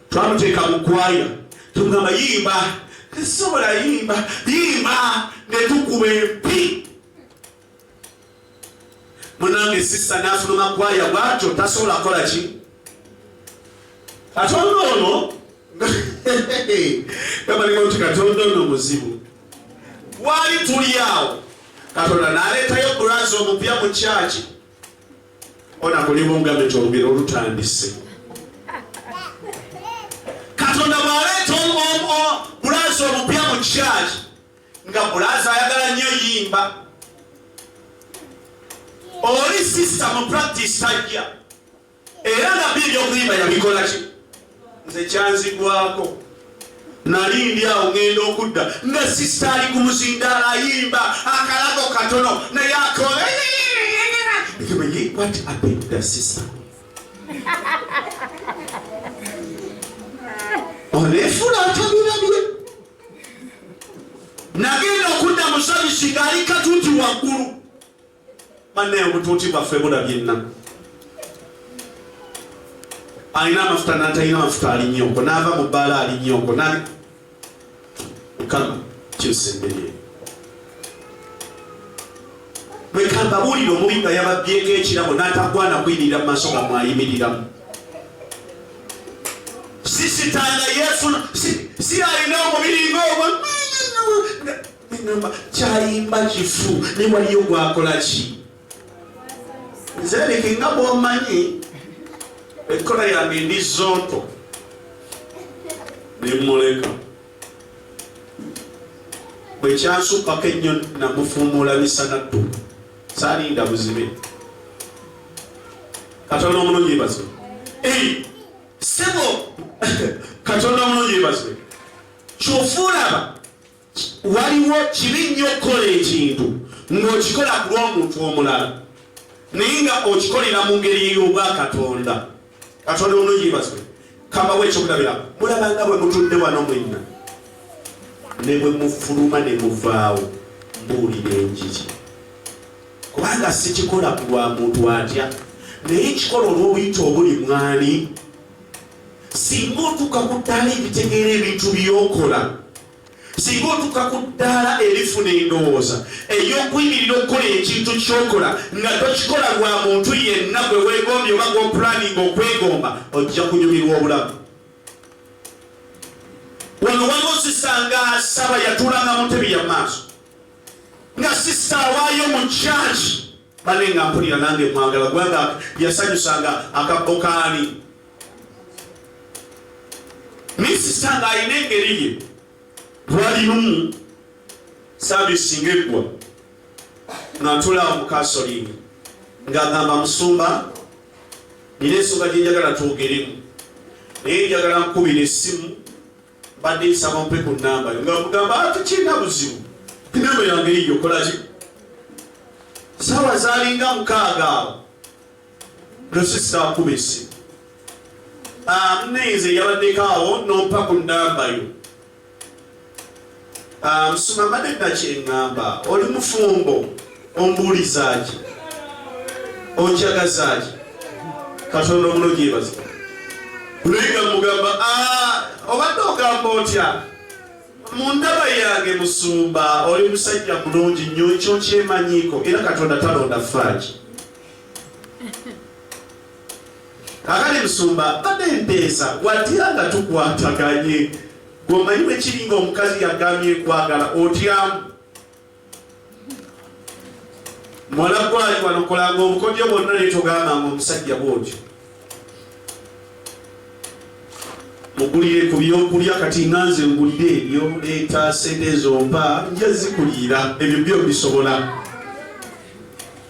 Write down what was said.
twamuteeka mu kwaya tugamba yimba tesobola yimba yimba netukuba empi munange sisa nafuluma kwaya bwatyo tasobola kola ki katonda ono gabalinga nti katonda ono muzibu wali tuli awo katonda naleetayo bulazi omupya mu kyaki ona kulimu nga betwogera olutandise katonda bwaleeta bulaza omupya mu kyaki nga bulaza ayagala nnyo yimba oli sisita mu practice tajja era nabbi ebyokuyimba yabikola ki nze kyanzigwako nali ndi awo ŋŋenda okudda nga sisita ali ku muzindaalo ayimba akalago katono naye akola oneefula atabirabye nagenda okudda musabisi ng'ali katuuti waggulu Banne obutuuti bwaffe bulabyenna. Alina amafuta n'atalina amafuta ali nnyoko n'ava mu bbaala ali nnyoko n'ali mukama kyusa emmere eyo. Leka mbabuulire omubi nga yababbyeko ekirabo n'atagwana kuyimirira mu maaso nga mwayimiriramu. Sisitanga yeefuna si alina omubiri ng'ogwo namba kyayimba kifu ne waliyo gwakola ki nze leke nga bwomanyi ekkola yange ndi zonto nemuleka bwekyansuppako ennyo namufuumuula misana ttu salinda buzibe katonda omulungi bazwe sebo katonda omulungi bazwe kyofuulaba waliwo kibi nnyo okukola ekintu ng'okikola ku lw'omuntu omulala naye nga okikolera mu ngeri ey'obwa katonda katonda onoyibazwe kambawo ekyokulabira mulabanga bwe mutudde wano mwenna ne bwe mufuluma ne muvaawo mbuulira enjiri kubanga sikikola ku lwa muntu atya naye kikola olw'obuyita obuli mwani singa otuuka ku ttaala ebitegeera ebintu by'okola singa otuuka ku ddaala erifuna endowooza ey'okuyimirira okukola ekintu ky'okola nga tokikola lwa muntu yenna gwe weegombye oba gw'opulaninga okwegomba ojja kunyumirwa obulamu wano waliwo sisa nga asaba yatuulanga mu ntebi ya maaso nga sisa awaayo mu kyaki bane nga mpulira nange mwagala kubanga yasanyusanga akabbo kaani naye sisita nga alina engeri ye lwali lumu saavisi nga eggwa nga ntulaawo mukasolingi ng'agamba musumba nina ensonga gyenjagala twogeremu naye njagala nkubira essimu Mbadde nsaba ompe ku nnamba yo nga mugamba ati ah, kirina buzibu nnamba yange yiyo okolaki saawa zalinga mukaaga awo nosisaakuba esimu ah, mnenze yabaddeko awo nompa ku nnamba yo Ah, musuma mbadde nakyengamba oli mufumbo ombuulizaki onjagazaki katonda omulungi yebaza luyiga mugamba ah, obadde ogamba otya mu ndaba yange musumba oli musajja mulungi nnyo ekyo nkyemanyiiko era katonda talonda faaki kakali musumba badde mpeesa watira nga tukwataganye Gwe omanyi bwe kiri nga omukazi yagambye ekwagala otyamu mwala gwali wanokolanga obukodyo bwonna netogamba nga omusajja bwotyo mugulire ku byokulya kati nga nze ngulire ebyo leeta sente ezompa nja zikuliira ebyo byo bisobola